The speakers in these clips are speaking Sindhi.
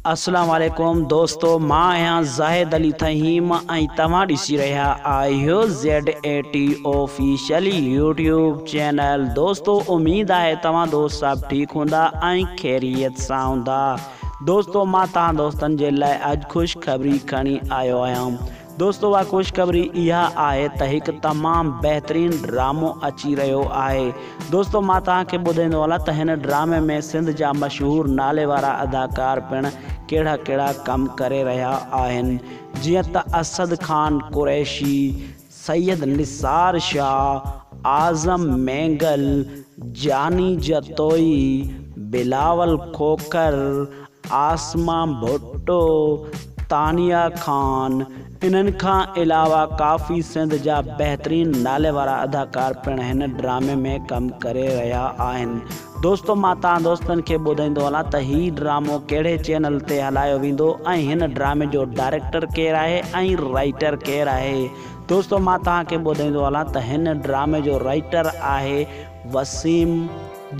اسلام عليڪم دوستو مان آهيان زاهد علي ٿهيم ۽ توهان ڏسي رهيا آهيو Z A T official YouTube channel دوستو اميد آهي توهان دوست صاحب ٺيڪ هوندا ۽ خيريت سان هوندا دوستو مان توهان دوستن جي لاء اڄ خوشخبري کڻي آيو آهيان دوستو اها خوشخبري اها آهي ته هڪ تمام بهترين ڊرامو اچي رهيو آهي دوستو مان توهان کي ٻڌائيندو هلان ته هن ڊرامي ۾ سنڌ جا مشهور نالي وارا اداڪار پڻ ڪهڙا ڪهڙا ڪم ڪري رهيا آهن جيئن ته اسد خان قريشي سيد نثار شاهه اعظم مينگل جاني جتوئي بلاول کوکر عاصمه ڀٽو، تانيا خان انهن کان علاوه ڪافي سنڌ جا بهترين نالي وارا اداڪار پڻ هن ڊرامي ۾ ڪم ڪري رهيا آهن. دوستو مان تهان دوستن کي ٻڌائيندو هلان ته هي ڊرامو ڪهڙي چينل تي هلايو ويندو ۽ هن ڊرامي جو ڊائريڪٽر ڪير آهي ۽ رائيٽر ڪير آهي دوستو مان تهان کي ٻڌائيندو هلان ته هن ڊرامي جو رائيٽر آهي وسيم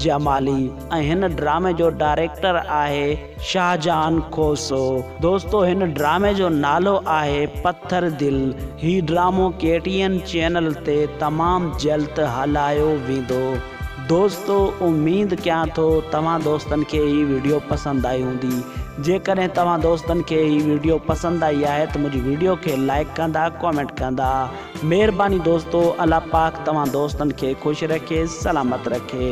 جمالي ۽ هن ڊرامي جو ڊائريڪٽر آهي شاهجهان کوسو دوستو هن ڊرامي جو نالو آهي پٿر دل هي ڊرامو ڪي ٽي اين چينل تي تمام جلد هلايو ويندو دوستو اميد ڪيان ٿو توهان دوستن کي هي ويڊيو پسند آئي هوندي جيڪڏهن توهان دوستن کي هي ويڊيو پسند آئي آهي ته منهنجي ويڊيو کي لائڪ ڪندا ڪمينٽ ڪندا. مھرباني دوستو الله پاڪ توھان دوستن کي خوش رکي سلامت رکي.